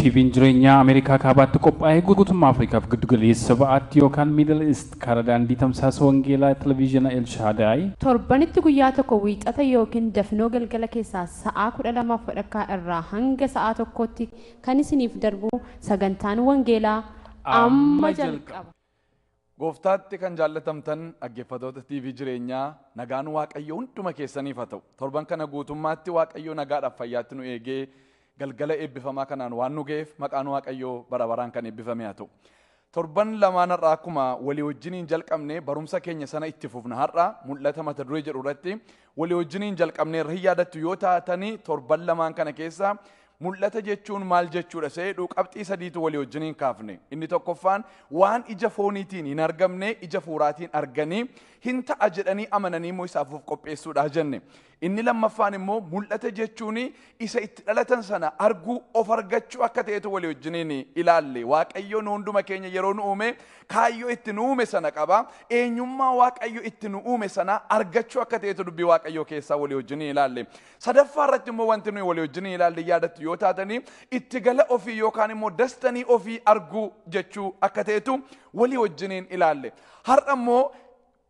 TVn jireenyaa Ameerikaa Kaabaatti qophaa'ee guutummaa Afrikaaf Giddu Galeessa Ba'aatti yookaan Middle East karaa daandii tamsaasa wangeelaa Televiizhiina El Shaadaay, Torbanitti guyyaa tokko Wiixata ykn dafnoo galgala keessaa sa'aa 12f wadhakkaa irraa hanga sa'aa tokkootti kan isiniif darbu sagantaan wangeelaa amma jalqaba. Gooftaatti kan jaallatamtan dhaggeeffatoota TV jireenyaa nagaan Waaqayyo hunduma keessaniif haa ta'u. Torban kana guutummaatti Waaqayyo nagaadhaaf fayyaatti nu eegee galgala eebbifamaa kanaan waan nu ga'eef maqaan Waaqayyoo bara baraan kan eebbifame haa ta'u. Torban lamaan har'aa akkuma walii wajjiniin jalqabne barumsa keenya sana itti fufna har'a mul'ata mata duree jedhu irratti Walii wajjiniin jalqabneerra hin yaadattu yoo taatani torban lamaan kana keessa mul'ata jechuun maal jechuudha isa jedhu qabxii sadiitu walii wajjiniin kaafne. Inni tokkoffaan waan ija fooniitiin hin argamne ija fuuraatiin arganii hin ta'a jedhanii amananii immoo isaaf of qopheessuudha jenne. Inni lammaffaan immoo mul'ata jechuun isa itti dhalatan sana arguu of argachuu akka ta'etu walii wajjiniin ilaalle waaqayyoon hunduma keenya yeroo nu uume kaayyoo itti nu uume sana qaba eenyummaa waaqayyo itti nu uume sana argachuu akka ta'etu dubbii waaqayyoo keessaa walii wajjiniin ilaalle sadaffaa irratti immoo wanti nuyi walii wajjiniin ilaalle yaadattu yoo taatanii itti gala ofii yookaan immoo dastanii ofii arguu jechuu akka ta'etu walii wajjiniin ilaalle har'a immoo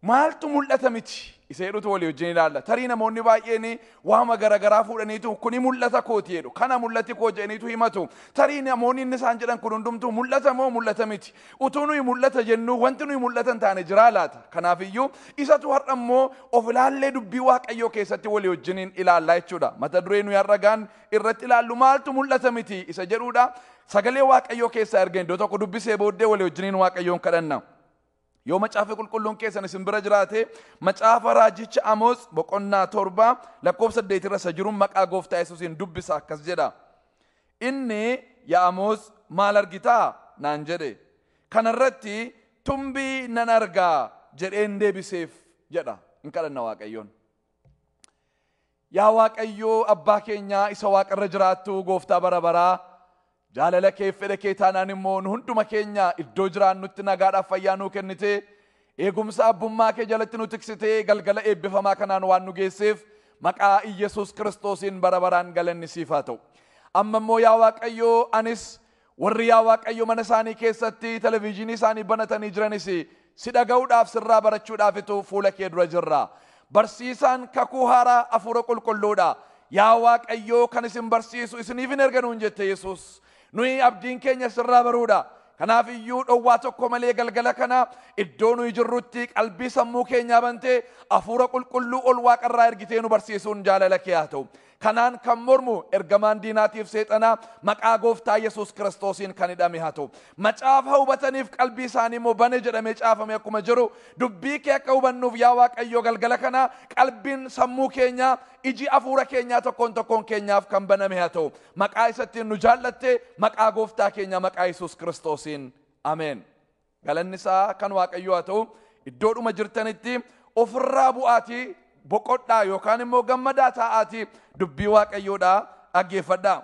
Maaltu mul'ata miti? Isa jedhutu walii wajjin ilaalla. Tarii namoonni baay'een waama garaagaraa fuudhaniitu kuni mul'ata kooti jedhu. Kana mul'ati koo jedhaniitu himatu. Tarii namoonni inni isaan jedhan kun hundumtuu mul'ata moo mul'ata miti? Utuu nuyi mul'ata jennuu wanti nuyi mul'ata hin taane jiraa laata? Kanaafiyyuu isatu har'a immoo of ilaallee dubbii Waaqayyoo keessatti walii wajjiniin ilaallaa jechuudha. Mata duree nuyi har'a gaan irratti ilaallu maaltu mul'ata miti isa jedhuudha. Sagalee Waaqayyoo keessaa erga iddoo tokko dubbisee booddee walii wajjiniin Waaqayyoon kadhanna. Yoo macaafni qulqulluun keessan isin bira jiraate macaafa raajicha Amoos boqonnaa torba lakkoofsa saddeet irra isa jiruun maqaa gooftaa Yesuusiin dubbisa akkas jedha. Inni yaa Amoos maal argitaa naan jedhe. Kana irratti tumbii nan argaa jedheen deebiseef jedha in kadhanna Waaqayyoon. Yaa Waaqayyo abbaa keenya isa waaqa irra jiraattu gooftaa bara baraa, jaalala keef fedha kee taanaan immoo nu hunduma keenya iddoo jiraannutti nagaadhaaf fayyaa nuu kennite, eegumsa abbummaa kee jalatti nu tiksite galgala eebbifamaa kanaan waan nu geesseef maqaa Iyyasuus Kiristoosiin bara baraan galanni siif haa ta'u. Amma immoo yaa Waaqayyo anis Warri yaa Waaqayyo mana isaanii keessatti televiizhinii isaanii banatanii jiranis si dhaga'uudhaaf sirraa barachuudhaafitu fuula kee dura jirra. Barsiisaan kakuu haaraa hafuura qulqulluudha. Yaa Waaqayyoo kan isin barsiisu isiniifin erga nuun jette Yesuus. Nuyi abdiin keenya sirraa baruudha. Kanaaf iyyuu dhowwaa tokko malee galgala kana iddoo nuyi jirrutti qalbii sammuu keenyaa bantee hafuura qulqulluu ol waaqarraa ergitee nu barsiisuun jaalala kee haa ta'u. Kanaan kan mormu ergamaan diinaatiif seexanaa maqaa gooftaa Yesuus Kiristoosiin kan hidhame haa ta'u. Macaafa hubataniif qalbii isaanii immoo bane jedhamee caafame akkuma jiru dubbii kee akka hubannuuf yaa Waaqayyoo galgala kana qalbiin sammuu keenyaa iji afuura keenyaa tokkoon tokkoon keenyaaf kan baname haa ta'u. Maqaa isattiin nu jaallatte maqaa gooftaa keenyaa maqaa Yesuus Kiristoosiin. Ameen. Galanni isaa kan Waaqayyoo haa ta'u iddoodhuma jirtanitti ofirraa bu'aatii boqodhaa yookaan immoo gammadaa taa'aatii dubbii Waaqayyoodhaa dhaggeeffadhaa.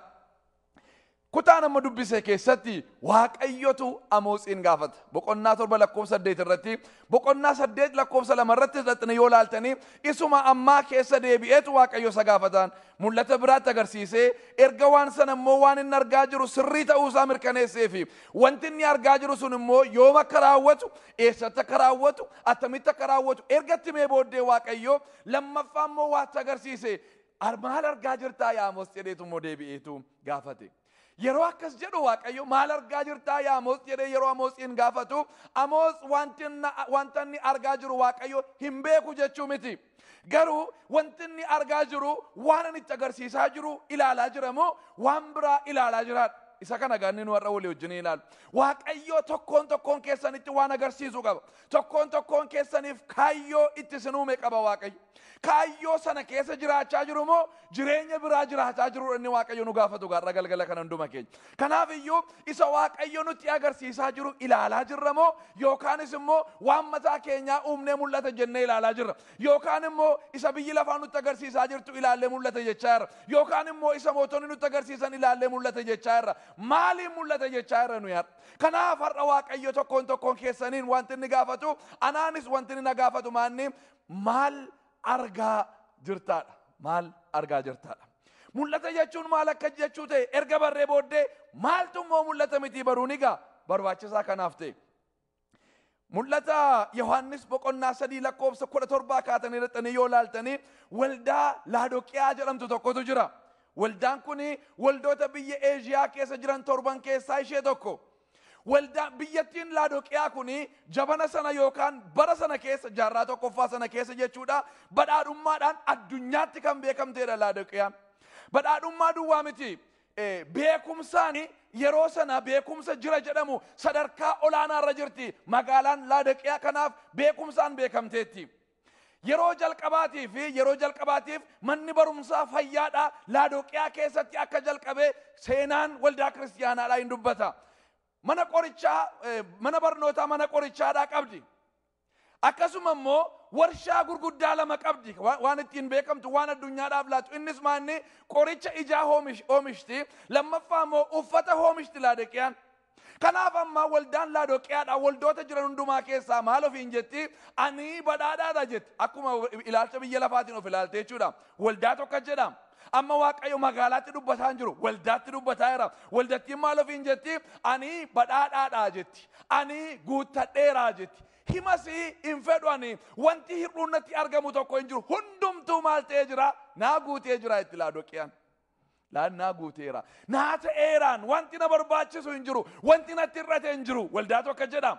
Kutaa nama dubbise keessatti Waaqayyotu Amoosiin gaafata. Boqonnaa torba lakkoofsa saddeet irratti, boqonnaa saddeet lakkoofsa lama irratti hidhattanii yoo laaltanii isuma ammaa keessa deebi'eetu Waaqayyo isa gaafataan. Mul'ata biraatti agarsiisee erga waan sana immoo waan inni argaa jiru sirrii ta'uu isaa mirkaneessee fi Wanti inni argaa jiru sun immoo yoom akka raawwatu, eessatti akka raawwatu, attamitti akka raawwatu erga itti himee booddee Waaqayyo lammaffaa immoo waatti agarsiise. Ar- Maal argaa jirtaa yaa Amos jedheetu immoo deebi'eetu gaafate. Yeroo akkas jedhu Waaqayyo maal argaa jirtaa yaa Amos jedhee yeroo Amosiin gaafatu Amos wanti inni- wanta inni argaa jiru Waaqayyo hin beeku jechuu miti. Garuu wanti inni argaa jiru waan ani itti agarsiisaa jiru ilaalaa jira moo waan biraa ilaalaa jiraadha. Isa kana gaanni nu har'a walii wajjin ilaalu. Waaqayyoo tokkoon tokkoon keessanitti waan agarsiisu qaba. Tokkoon tokkoon keessaniif kaayyoo itti isin uume qaba Waaqayyo. Kaayyoo sana keessa jiraachaa jiru moo jireenya biraa jiraataa jiruudha inni Waaqayyo nu gaafatu gaarra galgala kana hunduma keenya. Kanaaf iyyuu isa Waaqayyo nutti agarsiisaa jiru ilaalaa jirra moo yookaanis immoo waan mataa keenyaa uumnee mul'ata jennee ilaalaa jirra. Yookaan immoo isa biyyi lafaa nutti agarsiisaa jirtu ilaallee mul'ata jechaa jirra. Yookaan immoo isa mootonni nutti agarsiisan ilaallee mul'ata jechaa jirra. Maaliin mul'ata jechaa jirra nuyi har'a? Kanaaf har'a Waaqayyo tokkoon tokkoon keessaniin wanti inni gaafatu anaanis wanti inni na gaafatu maanni maal argaa jirtaadha. Maal argaa jirtaadha. Mul'ata jechuun maal akka jechuu ta'e erga barree booddee maaltu immoo mul'ata mitii baruun egaa barbaachisaa kanaaf ta'e. Mul'ata Yohaannis boqonnaa sadii lakkoofsa kudha torbaa kaatanii dhaqxanii yoo laaltanii waldaa Laadoqiyaa jedhamtu tokkotu jira. Waldaan kun waldoota biyya Eeshiyaa keessa jiran torban keessaa ishee tokko. Waldaan biyyattiin Laadoqiyaa kun jabana sana yookaan bara sana keessa jaarraa tokkoffaa sana keessa jechuudha badhaadhummaadhaan addunyaatti kan beekamteedha Laadoqiyaan. Badhaadhummaa duwwaa miti beekumsaan yeroo sana beekumsa jira jedhamu sadarkaa olaanaa irra jirti magaalaan Laadoqiyaa kanaaf beekumsaan beekamteetti. Yeroo jalqabaatii fi yeroo jalqabaatiif manni barumsaa fayyaadhaa Laadoqiyaa keessatti akka jalqabe seenaan waldaa kiristiyaanaadhaa hin dubbata. Mana qorichaa eh, mana barnootaa mana qorichaadhaa qabdi. Akkasuma immoo warshaa gurguddaa lama qabdi Wa- waan ittiin beekamtu waan addunyaadhaaf laatu innis maanni qoricha ijaa hoomish- hoomishti lammaffaa immoo uffata hoomishti Laadoqiyaan. Kanaaf amma waldaan Laadoqiyaadhaa waldoota jiran hundumaa keessaa maal ofiin jetti? Ani badhaadhaadha jetti. Akkuma ilaalcha biyya lafaatiin of ilaalte jechuudha. Waldaa tokko jedha. Amma Waaqayyo magaalaatti dubbataa hin jiru. Waldaatti dubbataa jira. Waldattiin maal ofiin jetti? Ani badhaadhaadha jetti. Ani guuttadheera jetti. Himasii hin fedhu ani wanti hir'uun natti argamu tokko hin jiru. Hundumtuu maal ta'ee jira? Naa guutee jira itti Laadoqiyaan. Laannaa guuteera. Naa ta'eeraan wanti na barbaachisu hin jiru. Wanti natti hir'ate hin jiru. Waldaa tokko jedha.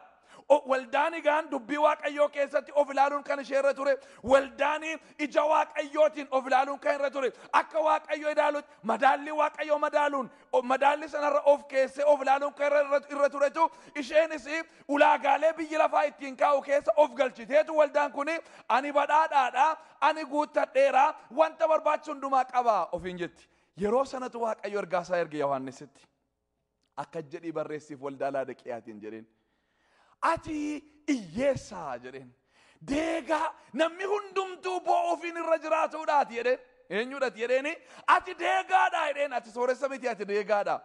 O- Waldaan egaan dubbii Waaqayyoo keessatti of ilaaluun kan ishee irra ture. Waldaan ija Waaqayyootiin of ilaaluun kan irra ture. Akka Waaqayyo ilaalutti madaallii Waaqayyoo madaaluun o- madaallii sanarra of keessee of ilaaluun kan irra, irra, irra turetu isheenis ulaagaalee biyyi lafaa ittiin kaa'u keessa of galchiteetu waldaan kun ani badhaadhaadha, ani guuttadheera, wanta barbaachisu hundumaa qaba ofiin jetti. Yeroo sanatu Waaqayyo ergaa isaa erge Yohaannisitti. Akkas jedhii barreessiif waldaa Laadiqiyaatiin jedheen. Ati hiyyeessaa jedheen. Deegaa namni hundumtuu boo'uufiin irra jiraatuudhaati jedheen. Eenyuudhaati jedheeni ati deegaadhaa jedheen ati sooressa miti ati deegaadhaa.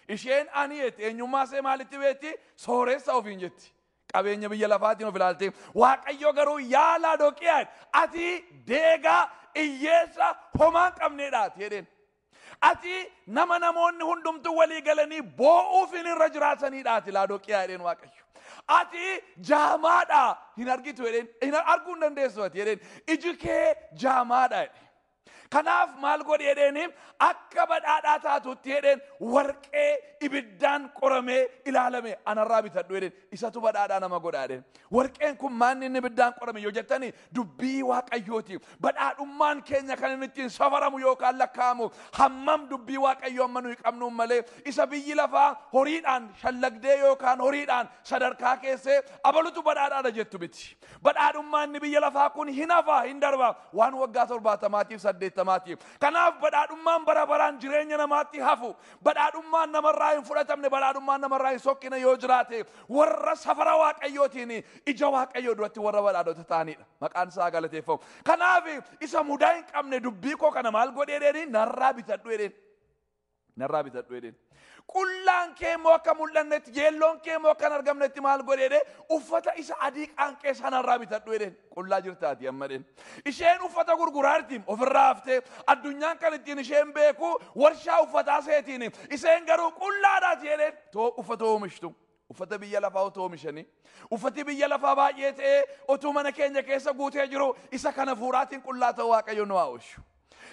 Isheen ani jetti eenyummaa ishee maalitti beekti sooressa ofiin jetti. Qabeenya biyya lafaatiin of ilaaltee waaqayyo garuu yaa Laadoqiyaa ati deegaa hiyyeessa homaa hin qabneedhaati jedheen. Ati nama namoonni hundumtuu walii galanii boo'uufiin irra jiraataniidha ati laadoqiyaa jedheen waaqayyo. Ati jaamaadha hin argitu jedheen hin arguu hin dandeessu ati jedheen iji kee jaamaadha jedheen. Kanaaf maal godhi jedheeni akka badhaadhaa taatutti jedheen warqee ibiddaan qoramee ilaalame anarraa bitadhu jedheen isatu badhaadhaa nama godha jedheen. Warqeen kun maanni inni ibiddaan qorame yoo jettani Dubbii Waaqayyooti. Badhaadhummaan keenya kan inni ittiin safaramu yookaan lakkaa'amu hammam dubbii Waaqayyoo amma nuyi qabnuun malee isa biyyi lafaa horiidhaan shallagdee yookaan horiidhaan sadarkaa keessee abalutu badhaadhaadha jettu miti. Badhaadhummaa inni biyya lafaa kun hin hafa hin darba waan waggaa torbaatamaatiif saddeettamaatiif. Kanaaf badhaadhummaan bara baraan jireenya namaatti hafu badhaadhummaan namarraa hin fudhatamne badhaadhummaan namarraa hin sokkine yoo jiraate warra safara waaqayyootiin ija waaqayyoo duratti warra badhaadhota ta'anidha. Maqaan isaa galateeffamu. Kanaaf isa mudaa hin qabne dubbii koo kana maal godhee jedheen narraa bitadhu jedheen. Narraa bitadhu jedheen. Qullaan kee immoo akka mul'annetti yeelloon kee immoo akka hin argamnetti maal godhee jedhee uffata isa adii qaanqee sanarraa bitadhu jedheen. Qullaa jirtaati amma jedheen. Isheen uffata gurguraarti ofirraa haftee addunyaan kan ittiin isheen beeku warshaa uffataa seetiin isheen garuu qullaadhaati jedheen. too uffata oomishtu uffata biyya lafaa otoo oomishanii uffati biyya lafaa baay'ee ta'ee otuu mana keenya keessa guutee jiru isa kana hafuuraatiin qullaa ta'uu waaqayyo nu haa oolchu.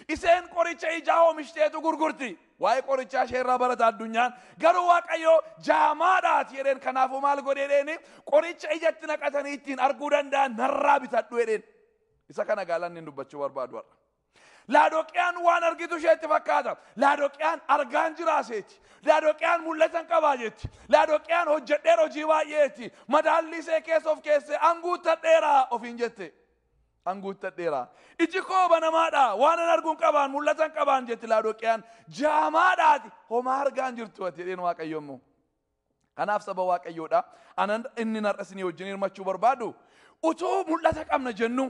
Iseen qoricha ijaa oomishiteetu gurgurti. Waa'ee qorichaa ishee irraa barata addunyaan. Garuu waaqayyo jaamaadhaati jedheen kanaafuu maal godhe jedheeni qoricha ijatti naqatanii ittiin arguu danda'an narraa bitadhu jedheen. Isa kana gaalanni dubbachuu barbaadu har'a. Laadoqiyaan waan argitu isheetti fakkaata. Laadoqiyaan argaan jiraa seeti. Laadoqiyaan mul'atan qabaa jetti. Laadoqiyaan hojjedheera hojii baay'ee jetti. Madaallii isee keessa of keessee anguuttadheera ofiin jette. Anguuttadheera. Iji koo banamaadha. Waan an arguun qabaan mul'atan qabaan jetti Laadoqiyaan. Jaamaadhaati. Homaa argaan jirtu ati jedheen Waaqayyo immoo. Kanaaf saba Waaqayyoo dha. Ana inni narra isinii wajjin hirmachuu barbaadu utuu mul'ata qabna jennu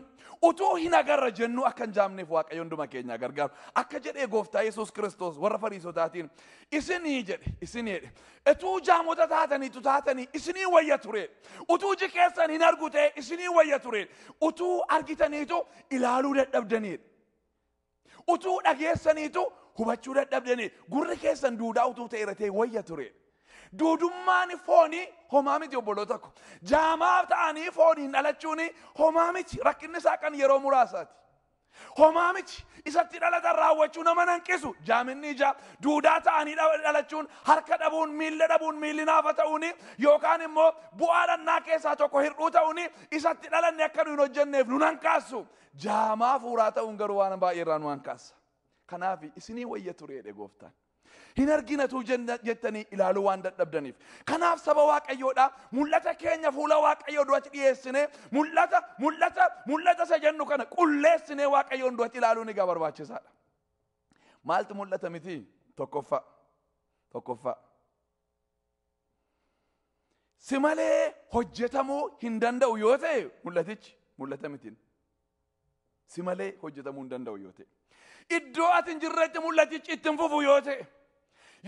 utuu hin agarra jennu akka hin jaamneef Waaqayyo hunduma keenya gargaaru. Akka jedhee gooftaa Yesuus Kiristoos warra fariisotaatiin isinii jedhe isinii jedhe utuu jaamota taataniitu taatanii isinii wayya ture utuu iji keessan hin argu ta'e isinii wayya ture utuu argitaniitu ilaaluu dadhabdaniidha. Utuu dhageessaniitu hubachuu dadhabdanii gurri keessan duudaa utuu ta'e irra ta'e wayya ture. Duudummaan foonii homaa miti obboloota ko. Jaamaa ta'anii fooniin dhalachuun homaa miti rakkinni isaa kan yeroo muraasaati. Homaa miti isatti dhalatan raawwachuu nama hanqisu jaaminni ijaa duudaa ta'anii dha- dhalachuun harka dhabuun miilla dhabuun miilli naafa ta'uun yookaan immoo bu'aa dhannaa keessaa tokko hir'uu ta'uun isatti dhalanne akka nu hin hojjenneef nun hanqaasu Jaamaa hafuuraa ta'uun garuu waan baay'ee irraa nu hankaasa. Kanaaf isinii wayya ture jedhe gooftaan. Hin arginatuu jenna- jettanii ilaaluu waan dadhabdaniif. Kanaaf saba waaqayyoodhaa mul'ata keenya fuula waaqayyoo duratti dhiyeessinee mul'ata mul'ata mul'ata isa jennu kana qulleessinee waaqayyoon duratti ilaaluun egaa barbaachisaadha. Maaltu mul'ata miti? Tokkoffaa. Tokkoffaa. Si malee hojjetamuu hin danda'u yoo ta'e mul'atichi mul'ata mitiin. Si malee hojjetamuu hin danda'u yoo ta'e. Iddoo ati hin jirretti mul'atichi itti hin fufu yoo ta'e.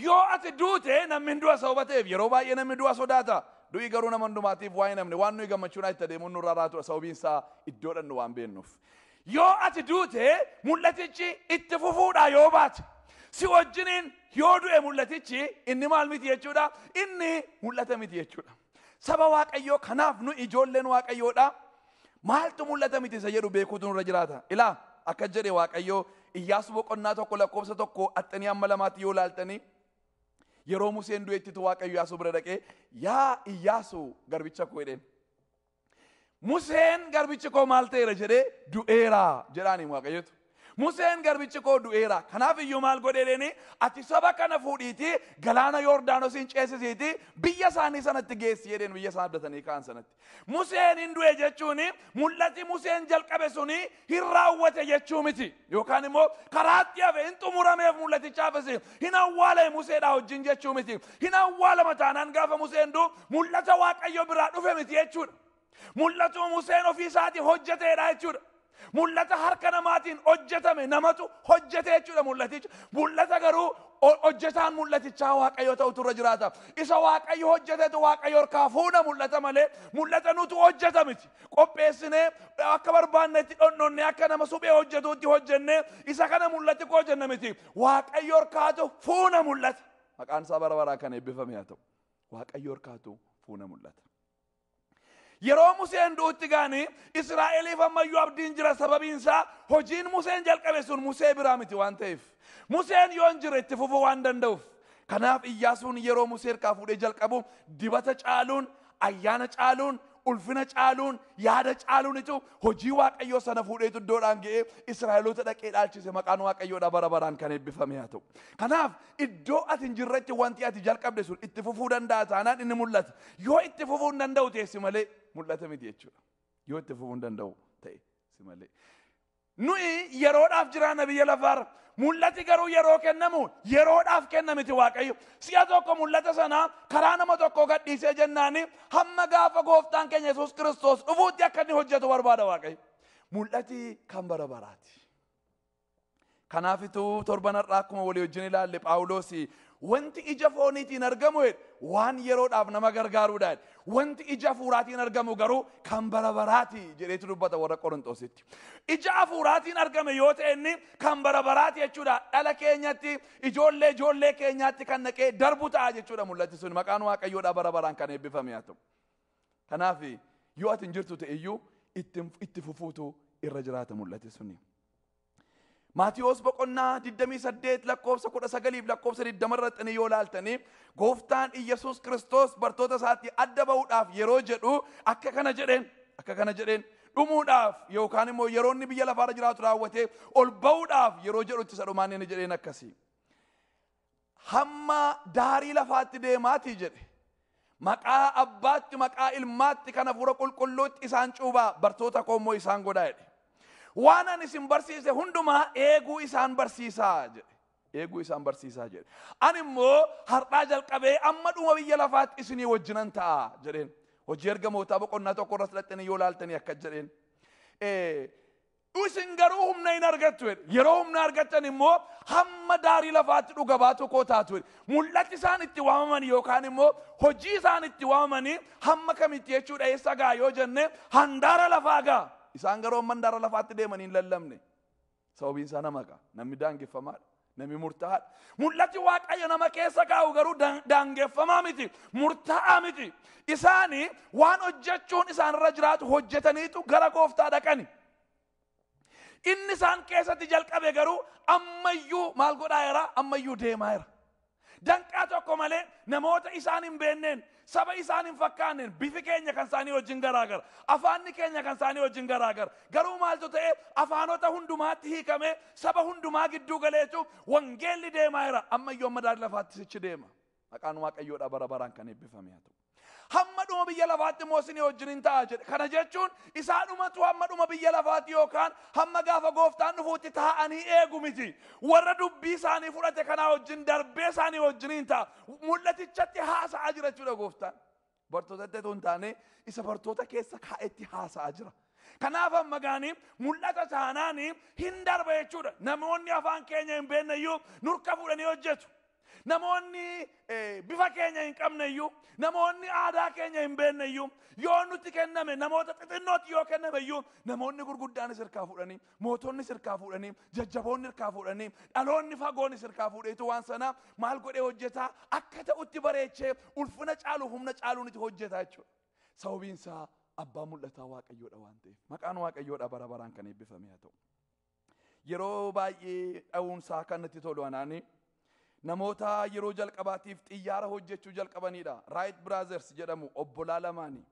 Yoo ati duute namni hin du'a sababa ta'eef yeroo baay'ee namni du'a sodaata. Du'i garuu nama hundumaatiif waa hin hafne waan nuyi gammachuudhaan itti adeemuun nurraa raatudha sababiin isaa iddoodhaan nu waan beennuuf. Yoo ati duute mul'atichi itti fufuudhaa yoo baate si wajjiniin yoo du'e mul'atichi inni maal miti jechuudha inni mul'ata miti jechuudha. Saba Waaqayyoo kanaaf nu ijoolleen Waaqayyoodha maaltu mul'ata miti isa jedhu beekuutu nurra jiraata. Ilaa akka jedhe Waaqayyoo Iyyaasuu boqonnaa tokko lakkoofsa tokko axxanii amma lamaatti yoo laaltanii yeroo Museen du'ettitu Waaqayyo Iyyaasuu bira dhaqee yaa Iyyaasuu garbicha koo jedheen. Museen garbichi koo maal ta'eera jedhee du'eera jedhaaniin waaqayyotu. Museen garbichi koo du'eera. Kanaaf iyyuu maal godhee deeni ati saba kana fuudhiitii galaana Yoordaanosiin ceesisiitii biyya isaanii sanatti geessi jedheen biyya isaan abdatanii ka'an sanatti. Museen hin du'e jechuun mul'ati Museen jalqabe suni hin raawwate jechuu miti yookaan immoo karaatti hafe hin xumurameef mul'atichaafis hin awwaalame museedhaa wajjin jechuu miti hin awwaalama taanaan gaafa museen du mul'ata waaqayyo biraa dhufe miti jechuudha mul'atu museen ofii isaatii hojjeteedha jechuudha mul'ata harka namaatiin hojjetame namatu hojjete jechuudha mul'aticha mul'ata garuu ho- hojjetaan mul'atichaa waaqayyo ta'utu irra jiraata isa waaqayyo hojjetetu waaqayyo harkaa fuudha mul'ata malee mul'ata nutu hojjeta miti qopheessinee akka barbaannetti dhonnonnee akka nama suphee hojjetuutti hojjennee isa kana mul'atti koo jenna miti waaqayyo orkaatu fuuna mul'ata maqaan isaa bara baraa kan eebbifame haa ta'u waaqayyo orkaatu fuuna mul'ata. Yeroo Museen du'utti gaanii Israa'eliif ammayyuu abdiin jira sababiin isaa hojiin Museen jalqabe sun Musee biraa miti waan ta'eef Museen yoo hin jire itti fufuu waan danda'uuf kanaaf Iyyaasuun yeroo Musee harkaa fuudhee jalqabu dibata caaluun Ayyaana caaluun, ulfina caaluun, yaada caaluunitu hojii Waaqayyoo sana fuudheetu iddoodhaan ga'ee Israa'eloota dhaqee dhaalchise maqaan Waaqayyoodha bara baraan kan eebbifame haa ta'u. Kanaaf iddoo ati hin jirretti wanti ati jalqabde sun itti fufuu danda'a taanaan inni mul'ata. Yoo itti fufuu hin danda'u ta'e si malee mul'ata miti jechuudha. Yoo itti fufuu hin danda'u ta'e si malee. Nuyi yeroodhaaf jiraanna biyya lafaarra. Mul'ati garuu yeroo kennamu yeroodhaaf kenna miti Waaqayyo. Si'a tokko mul'ata sana karaa nama tokkoo gadhiisee jennaani hamma gaafa gooftaan keenya Yesuus Kiristoos dhufuutti akka inni hojjetu barbaada Waaqayyo. Mul'ati kan bara baraati. Kanaafitu torban har'aa akkuma walii wajjin ilaalle Phaawuloos wanti ija fooniitiin argamu jedhe, waan yeroodhaaf nama gargaaruudha. jedhe. Wanti ija hafuuraatiin argamu garuu kan bara baraati jedheetu dubbata warra Qorinxoositti. Ija hafuuraatiin argame yoo ta'e inni kan bara baraati jechuudha. Dhala keenyatti ijoollee ijoollee keenyaatti kan naqee darbu ta'a jechuudha mul'ati sun maqaan waaqayyoodhaa bara baraan kan eebbifame haa ta'u. Kanaaf yoo ati hin jirtu ta'e iyyuu itti fufuu irra jiraata mul'ati suni. Maatiwoos boqonnaa 28 lakkoofsa 19 fi lakkoofsa 20 irratti yoo laaltanii gooftaan Iyyasuus Kiristoos bartoota isaatii adda ba'uudhaaf yeroo jedhu akka kana jedheen akka kana jedheen dhumuudhaaf yookaan immoo yeroo inni biyya lafaarra jiraatu raawwatee ol ba'uudhaaf yeroo jedhutti isa dhumaan inni jedheen akkasii. hamma daarii lafaatti deemaatii jedhe. Maqaa abbaatti, maqaa ilmaatti, kan hafuura qulqulluutti isaan cuubaa, bartoota koo immoo isaan godhaa jedhe. Waan ani isin barsiise hundumaa eeguu isaan barsiisaa jedhe. Eeguu isaan barsiisaa jedhe. Ani immoo har'aa jalqabee amma dhuma biyya lafaatti isinii wajjinan ta'a jedheen. Hojii ergamootaa boqonnaa tokko irratti dhaqxanii yoo laaltanii akka jedheen. Isin garuu humna hin argattu jedhe. Yeroo humna argattan immoo hamma daarii lafaatti dhuga baatoo koo taatu jedhe. Mul'ati isaan itti waamaman yookaan immoo hojii isaan itti waamamanii hamma kamitti jechuudha eessa ga'a yoo jenne handaara lafaa ga'a. Isaan garuu hamma handaara lafaatti deemanii hin lallabne. Sababiin isaa nama ga'a. Namni daangeffamaadha. Nami murtaa'aa. Mul'ati Waaqayyo nama keessa kaa'u garuu daan- daangeffamaa miti, murtaa'aa miti. Isaani waan hojjechuun isaanirra jiraatu hojjetaniitu gara gooftaa dhaqani. Inni isaan keessatti jalqabe garuu ammayyuu maal godhaa jira? Ammayyuu deemaa jira. Danqaa tokko malee namoota isaan hin beenneen, saba isaan hin fakkaanneen bifi keenya kan isaanii wajjin garaagara, afaanni keenya kan isaanii wajjin garaagara. Garuu maaltu ta'e? Afaanota hundumaatti hiikamee saba hundumaa gidduu galee jechuun wangeelli deemaa jira. Ammayyuu amma daari lafaatti sichi deema. Maqaan Waaqayyoodhaa bara baraan kan eebbifame haa ta'u. Hamma dhuma biyya lafaatti immoo isinii wajjin in ta'a jedhe. Kana jechuun isaa dhumatu hamma dhuma biyya lafaatti yookaan hamma gaafa gooftaan dhufuutti taa'anii eegu miti. Warra dubbii isaanii fudhate kanaa wajjin darbee isaanii wajjin in ta'a. Mul'atichatti haasa'aa jira jechuudha gooftaan. Bartootatti otoo hin taane isa bartoota keessa kaa'etti haasa'aa jira. Kanaaf amma gaanii mul'ata taanaanii hin darba jechuudha. Namoonni afaan keenya hin beekne iyyuu nurka fuudhanii hojjetu. Namoonni bifa keenya hin qabneyyuu, namoonni aadaa keenya hin beekneyyuu, yoo nutti kenname namoota xixinnootti yoo kennameyyuu, namoonni gurguddaanis irkaa fuudhanii, mootonnis irkaa fuudhanii, jajjaboonni irkaa fuudhanii, dhaloonni fagoonis irkaa fuudheetu waan sana maal godhee hojjetaa akka ta'utti bareechee ulfina caalu humna caaluun itti hojjetaa jechuudha. Sababiin isaa abbaa mul'ataa Waaqayyoodha waan ta'eef. Maqaan Waaqayyoodha bara baraan kan eebbifame haa ta'u. Yeroo baay'ee dha'uunsaa kan natti tolu anaani. Namoota yeroo jalqabaatiif xiyyaara hojjechuu jalqabanidha. Raayit Biraazers jedhamu obbolaa lamaani.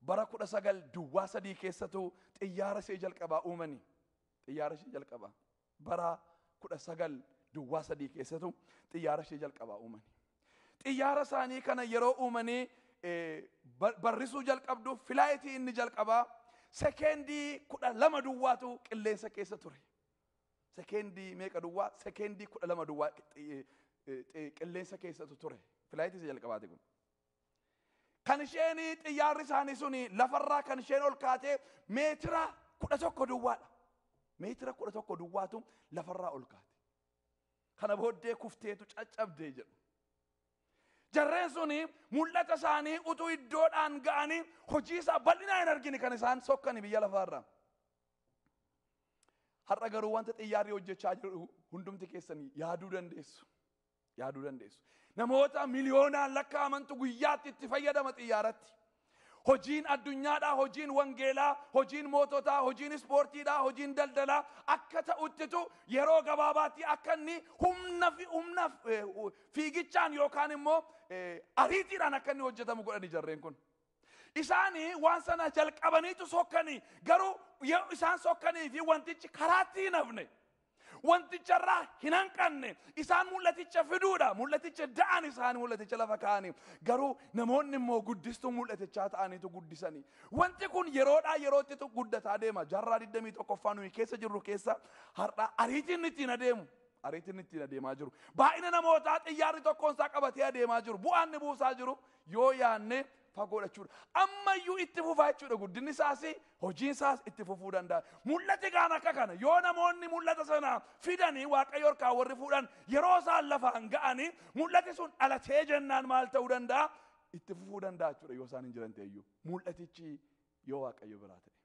Bara kudha sagal duwwaa sadii keessatu xiyyaara ishee jalqabaa uumani. Xiyyaara ishee jalqabaa. Bara kudha sagal duwwaa sadii keessatu xiyyaara ishee jalqabaa uumani. Xiyyaara isaanii kana yeroo uumanii barrisuu jalqabdu filaayitii inni jalqabaa sekeendii kudha lama duwwaatu qilleensa keessa ture. Sekeendii meeqa duwwaa? Sekeendii kudha lama duwwaa qilleensa keessatu ture. Filaayitii isa jalqabaati kun. Kan isheen xiyyaarri isaanii suni lafarraa kan isheen ol kaatee meetira kudha tokko duwwaadha. Meetira kudha tokko duwwaatu lafarraa ol kaate. Kana booddee kufteetu caccabdee jedhu. Jarreen suni mul'ata isaanii utuu iddoodhaan ga'anii hojii isaa bal'inaa hin argine kan isaan sokkani biyya lafaarra. Har'a garuu wanta xiyyaarri hojjechaa jiru hundumti keessan yaaduu dandeessu. Yaaduu dandeessu. Namoota miliyoonaan lakkaa'amantu guyyaatti itti fayyadama xiyyaaratti. Hojiin addunyaadhaa, hojiin wangeelaa, hojiin moototaa, hojiin ispoortiidhaa, hojiin daldalaa akka ta'uttitu yeroo gabaabaatti akka inni humna fi humna eh, hu- fiigichaan yookaan immoo eh, ariitiidhaan akka inni hojjetamu godhani jarreen kun. Isaanii waan sana jalqabaniitu sokkanii garuu yoo isaan sokkanii fi wantichi karaatti hin hafne. Wanticharraa hin hanqanne. Isaan mul'aticha fiduudha. Mul'aticha da'an isaan mul'aticha lafa kaa'anii. Garuu namoonni immoo guddistuu mul'atichaa ta'aniitu guddisanii. Wanti kun yeroodhaa yerootti tu- guddataa deema. Jaarraa 21ffaa nuyi keessa jirru keessa har'a ariitiin ittiin adeemu. Ariitiin ittiin adeemaa jiru. Baay'ina namootaa xiyyaarri tokkoon isaa qabatee adeemaa jiru. Bu'aan inni buusaa jiru yoo yaanne fagoodha jechuudha. Ammayyuu itti fufaa jechuudha guddinni isaas hojiin isaas itti fufuu danda'a. Mul'ati kaan akka kana yoo namoonni mul'ata sana fidanii waaqayyo harkaa warri fuudhan yeroo isaan lafaan ga'anii mul'ati sun dhalatee jennaan maal ta'uu danda'a? Itti fufuu danda'a jechuudha yoo isaan hin jiran ta'eyyuu. Mul'atichi yoo waaqayyo biraa ta'e.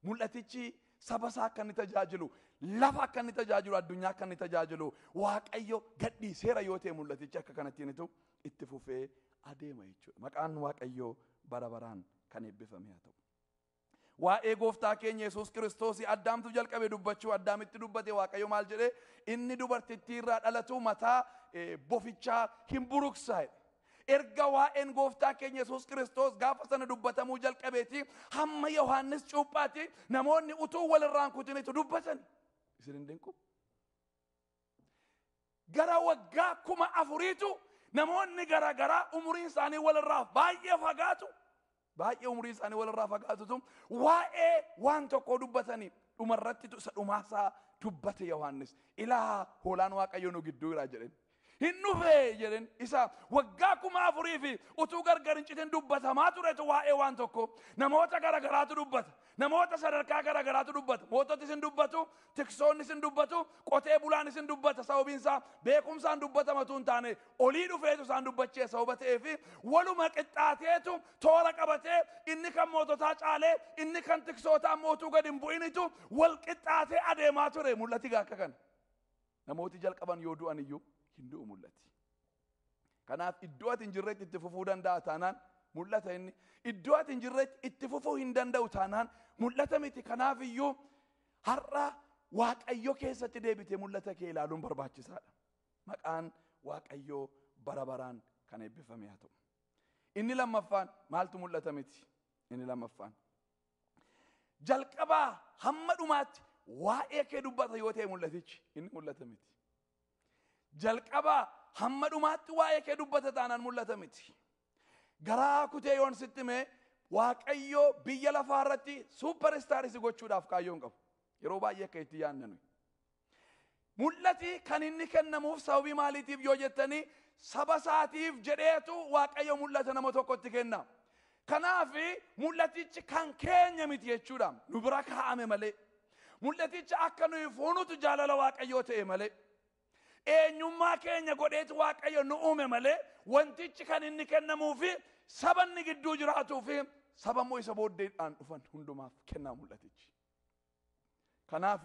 Mul'atichi saba isaa akka inni tajaajilu, lafa akka inni tajaajilu, addunyaa akka inni tajaajilu, Waaqayyo gadhiiseera yoo ta'e mul'atichi akka kanattiin itu itti fufee adeema jechuudha. Maqaan Waaqayyoo bara baraan kan eebbifame haa ta'u. Waa'ee gooftaa keenya Yesuus Kiristoos addaamtu jalqabe dubbachuu addaamitti dubbate Waaqayyo maal jedhe inni dubartittii irraa dhalatu mataa bofichaa hin buruksaa jedhe. Erga waa'een gooftaa keenya Yesuus Kiristoos gaafa sana dubbatamuu jalqabeeti hamma Yohaannis cuuphaati namoonni utuu walirraan kutinitu dubbatan. Isin hin dinqu? Gara waggaa kuma afuriitu namoonni garaagaraa umuriin isaanii walirraa baay'ee fagaatu Baay'ee umuriin isaanii walirraa fagaatutu waa'ee waan tokkoo dubbatanii dhumarrattitu isa dhumaasaa dubbate Yohaannis. Ilaa hoolaan Waaqayyoo nu gidduu jira jedheen. Hin dhufee jedheen isa waggaa kuma afurii fi utuu gargar hin citin dubbatamaa turetu waa'ee waan tokkoo namoota garagaraatu dubbata. Namoota sadarkaa gara garaatu dubbata. Moototis in dubbatu, tiksoonnis in dubbatu, qotee bulaanis in dubbata. Sababiin isaa beekumsaan dubbatama utuu hin taane olii dhufeetu isaan dubbachiisa sababa ta'eefi waluma qixxaateetu toora qabatee inni kan moototaa caalee inni kan tiksootaa immoo utuu gad hin bu'initu wal qixxaatee adeemaa ture mul'ati gaa akka kana. Namooti jalqaban yoo du'an iyyuu hin du'u mul'ati. Kanaaf iddoo ati hin jirretti itti fufuu danda'a taanaan mul'ata inni. Iddoo ati hin jirretti itti fufuu hin danda'u taanaan mul'ata miti. Kanaaf iyyuu har'a Waaqayyo keessatti deebitee mul'ata kee ilaaluun barbaachisaadha. Maqaan Waaqayyoo bara baraan kan eebbifame haa ta'u. Inni lammaffaan maaltu mul'ata miti? Inni lammaffaan. Jalqabaa hamma dhumaatti waa'ee kee dubbata yoo ta'e mul'atichi inni mul'ata miti. Jalqabaa hamma dhumaatti waa'ee kee dubbata taanaan mul'ata miti. Garaa kutee yoon sitti hime Waaqayyo biyya lafaa irratti suupper istaarii si gochuudhaaf kaayyoo hin qabu. Yeroo baay'ee akka itti yaadna nuyi. Mul'ati kan inni kennamuuf sababii maaliitiif yoo jettanii saba isaatiif jedheetu Waaqayyo mul'ata nama tokkotti kenna. Kanaaf mul'atichi kan keenya miti jechuudha. Nu bira kaa'ame malee. Mul'aticha akka nuyi fuunutu jaalala Waaqayyoo ta'e malee. Eenyummaa keenya godheeti Waaqayyo nu uume malee wantichi kan inni kennamuufi saba inni gidduu jiraatuufi saba immoo isa booddeedhaan dhufan hundumaaf kennaa mul'atichi. Kanaaf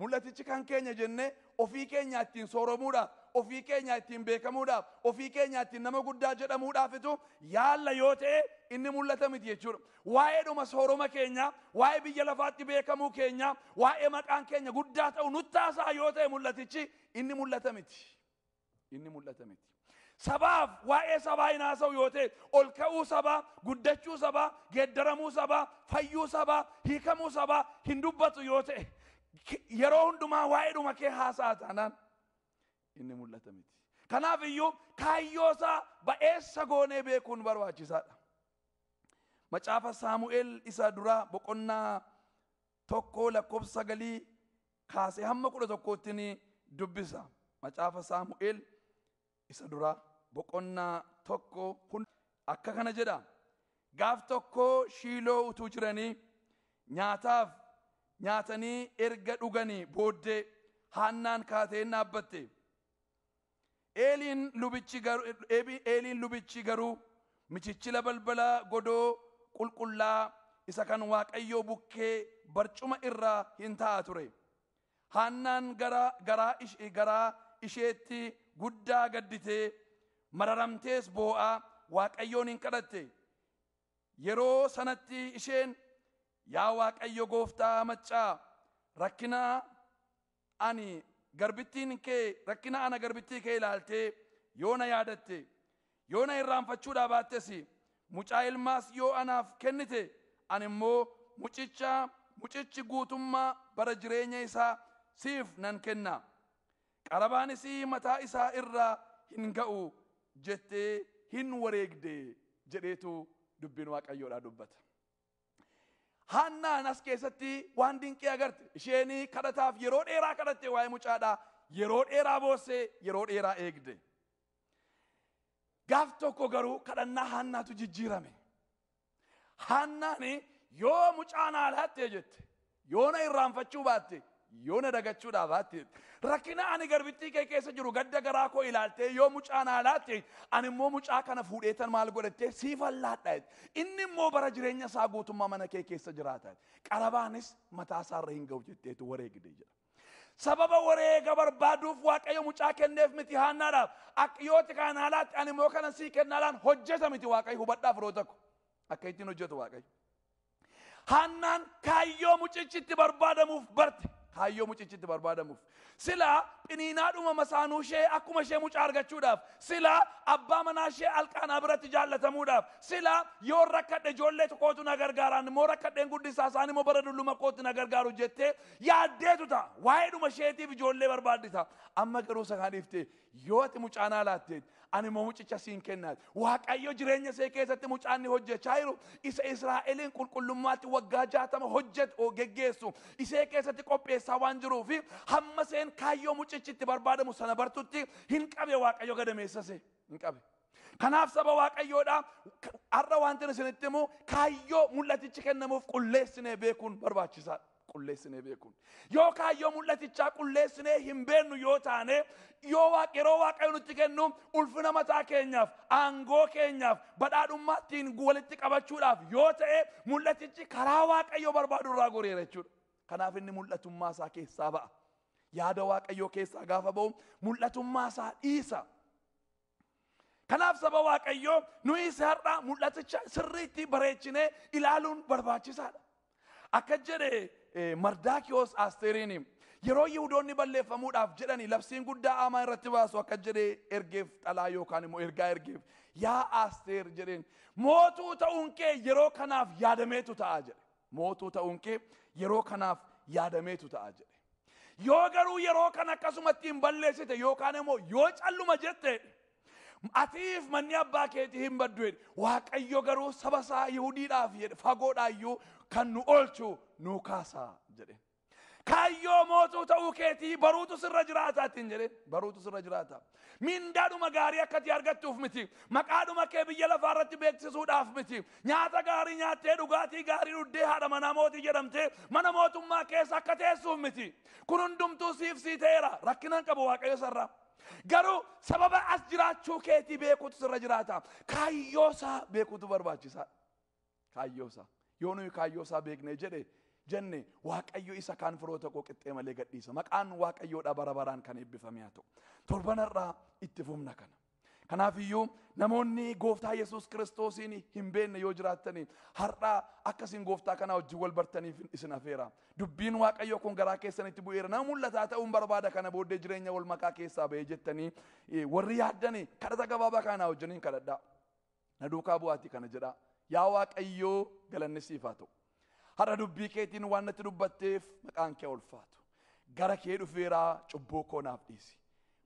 Mul'atichi kan keenya jennee ofii keenyaa ittiin sooromuudhaaf, ofii keenyaa ittiin beekamuudhaaf, ofii keenyaa ittiin nama guddaa jedhamuudhaafitu yaalla yoo ta'e inni mul'ata miti jechuudha. Waa'eedhuma sooroma keenyaa, waa'ee biyya lafaatti beekamuu keenyaa, waa'ee maqaan keenya guddaa ta'u nutti haasa'a yoo ta'e mul'atichi inni mul'ata miti. Inni mul'ata miti. Sabaaf waa'ee sabaa hin haasa'u yoo ta'e ol ka'uu sabaa, guddachuu sabaa, geeddaramuu sabaa, fayyuu sabaa, hiikamuu sabaa hin dubbatu yoo ta'e yeroo hundumaa waa'eedhuma kee haasa'a taanaan inni mul'ata miti. Kanaaf iyyuu kaayyoo isaa ba'eessa goonee beekuun barbaachisaadha. Macaafa Saamu'eel isa duraa boqonnaa tokkoo lakkoofsa sagalii kaasee hamma kudha tokkootti ni dubbisa. Macaafa Saamu'eel isa duraa boqonnaa tokko hunda akka kana jedha. Gaaf tokko shiiloo utuu jiranii nyaataaf nyaatanii erga dhuganii booddee haannaan kaatee hin dhaabbatte. Eeliin lubichi gar- eebi- Eeliin lubichi garuu michichila balbala godoo qulqullaa isa kan Waaqayyoo bukkee barcuma irra hin taa'a ture. Haannaan gara garaa ish- garaa isheetti guddaa gadditee mararamtees boo'aa Waaqayyoon hin kadhatte. Yeroo sanatti isheen yaa Waaqayyo gooftaa maccaa rakkina Ani garbittiin kee rakkina ana garbittii kee ilaaltee yoo na yaadatte, yoo na irraanfachuudhaa baattes, mucaa ilmaas yoo anaaf kennite, ani immoo mucicha, mucichi guutummaa bara jireenya isaa siif nan kenna, qarabaan isii mataa isaa irra hin ga'u jettee hin wareegde jedheetu dubbiin Waaqayyoodhaa dubbata. Haannaan as keessatti waan dinqii agarte. Isheen kadhataaf yeroo dheeraa kadhatte waa'ee mucaadhaa. Yeroo dheeraa boossee yeroo dheeraa eegde. Gaaf tokko garuu kadhannaa haannaatu jijjiirame. Haannaan yoo mucaa naa laattee jette Yoo na irraanfachuu baatte, yoo na dagachuudhaa baatte, rakkina ani garbittii kee keessa jiru gadda garaa koo ilaaltee yoo mucaa naa laatte, ani immoo mucaa kana fuudheetan maal godhattee siifan laadha. Inni immoo bara jireenya isaa guutummaa mana kee keessa jiraata. Qarabaanis mataa isaa irra hin ga'u jetteetu wareegde jedha. Sababa wareega barbaaduuf Waaqayyo mucaa kenneef miti haannaadhaaf. Akka yooti kana naa laatte ani immoo kana sii kennaa laan hojjeta miti Waaqayyo hubadhaa firoota ko. Akka ittiin hojjetu Waaqayyo. Haannaan kaayyoo mucichi itti barbaadamuuf barte. Kaayyoo mucichi itti barbaadamuuf. Silaa phiniinaadhuma masaanuu ishee akkuma ishee mucaa argachuudhaaf. Silaa abbaa manaa ishee alqaanaa biratti jaallatamuudhaaf. Silaa yoon rakkadhe ijoollee tokkootu na gargaaraan immoo rakkadheen guddisaa isaan immoo bara dulluma kootti na gargaaru jettee yaaddeetu ta'a. Waa'eedhuma isheetiif ijoollee barbaaddi ta'a. Amma garuu isa kana dhiiftee Yoo ati mucaa naa laatteet, ani immoo mucicha siin kennaat. Waaqayyo jireenya see keessatti mucaa inni hojjechaa jiru, isa Israa'eliin qulqullummaatti waggaa jaatama hojjet o geggeessu isee keessatti qopheessaa waan jiruu fi hamma seen kaayyoo mucichi itti barbaadamu sana bartutti hin qabe Waaqayyo gadameessa see. Hin qabe. Kanaaf saba Waaqayyoodha har'a wantin isinitti himu kaayyoo mul'atichi kennamuuf qulleessinee beekuun barbaachisaadha. qulleessinee beekuun yoo kaayyoo mul'atichaa qulleessinee hin beennu yoo taane yoo waaq yeroo waaqayyo nutti kennu ulfina mataa keenyaaf aangoo keenyaaf badhaadhummaa ittiin walitti qabachuudhaaf yoo ta'e mul'atichi karaa waaqayyo barbaadu irraa goreera jechuudha kanaaf inni mul'atummaa isaa keessaa ba'a yaada waaqayyoo keessaa gaafa ba'u mul'atummaa isaa dhiisa Kanaaf saba Waaqayyoo nuyis har'a mul'aticha sirriitti bareechinee ilaaluun barbaachisaadha. Akka jedhe eh, Mardaakiyoos Asteeriin yeroo Yihudoonni balleeffamuudhaaf jedhani labsiin guddaa Aamaa irratti baasu akka jedhe ergeef xalaa yookaan immoo ergaa ergeef yaa Asteer jedheen mootuu ta'uun kee yeroo kanaaf yaadameetu ta'a jedhe. Mootuu ta'uun kee yeroo kanaaf yaadameetu ta'a jedhe. Yoo garuu yeroo kan akkasumatti hin balleessite yookaan immoo yoo calluma jette atiif manni abbaa keetii hin baddu jedhe. Waaqayyo garuu saba isaa Yihudiidhaaf jedhe fagoodhaayyuu kan nu oolchu nuu kaasaa jedhe. Kaayyoo mootuu ta'uu keetii baruutu sirra jiraata ittiin jedheen baruutu sirra jiraata. Mindaadhuma gaarii akka itti argattuuf miti. Maqaadhuma kee biyya lafaa irratti beeksisuudhaaf miti. Nyaata gaarii nyaattee dhugaatii gaarii dhuddee haadha manaa mootii jedhamtee mana mootummaa keessa akka teessuuf miti. Kun hundumtuu siif sii ta'eera rakkinaan qabu waaqayyo sarraa. Garuu sababa as jiraachuu keetii beekuutu sirra jiraata. Kaayyoo isaa beekuutu barbaachisaadha. Kaayyoo isaa. Yoo nuyi kaayyoo isaa beeknee jedhe jenne waaqayyo isa kaan firoota koo qixxee malee gadhiisa. Maqaan waaqayyoodha bara baraan kan eebbifame haa ta'u. Torbanarraa itti fufna kana. Kanaaf iyyuu namoonni gooftaa Yesuus kiristoosiin hin beekne yoo jiraattanii har'aa akka isin gooftaa kanaa wajjin wal bartaniif isin afeera. Dubbiin waaqayyo kun garaa keessanitti bu'eera. Nama mul'ataa ta'uun barbaada kana booddee jireenya wal makaa keessaa ba'ee jettanii warri yaaddanii kadhata gabaabaa kanaa wajjiniin kadhadhaa. Na duukaa bu'aatii kana jedhaa. Yaa Waaqayyoo galanni siif haa ta'u. Har'a dubbii keetiin waan natti dubbatteef maqaan kee ulfaatu. Gara kee dhufeeraa cubbuu koo naaf dhiisi.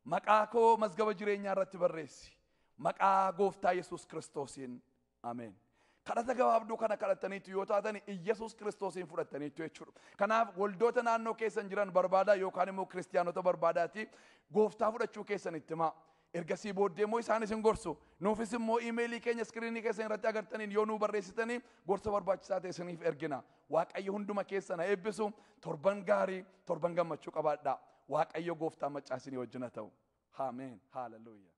Maqaa koo mazgaba jireenyaa irratti barreessi. Maqaa gooftaa Yesuus Kiristoosiin. Ameen. Kadhata gabaabduu kana kadhattaniitu yoo taatan Iyyasuus Kiristoosiin fudhattaniitu jechuudha. Kanaaf waldoota naannoo keessan jiran barbaadaa yookaan immoo kiristiyaanota barbaadaati gooftaa fudhachuu keessan itti himaa. Ergasii booddee immoo isaan isin gorsu. Nuufis immoo iimeelii keenya iskiriinii keessan irratti agartaniin yoo nuu barreessitanii gorsa barbaachisaa ta'e isiniif ergina. Waaqayyo hunduma keessan haa eebbisu. Torban gaarii, torban gammachuu qabaadhaa. Waaqayyo gooftaan maccaa isinii wajjin haa ta'u. Ameen. Haaleluyyaa.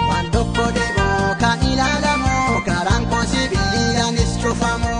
Waan tokko deemoo kan ilaalamu karaan koo sibiilanis cufamu.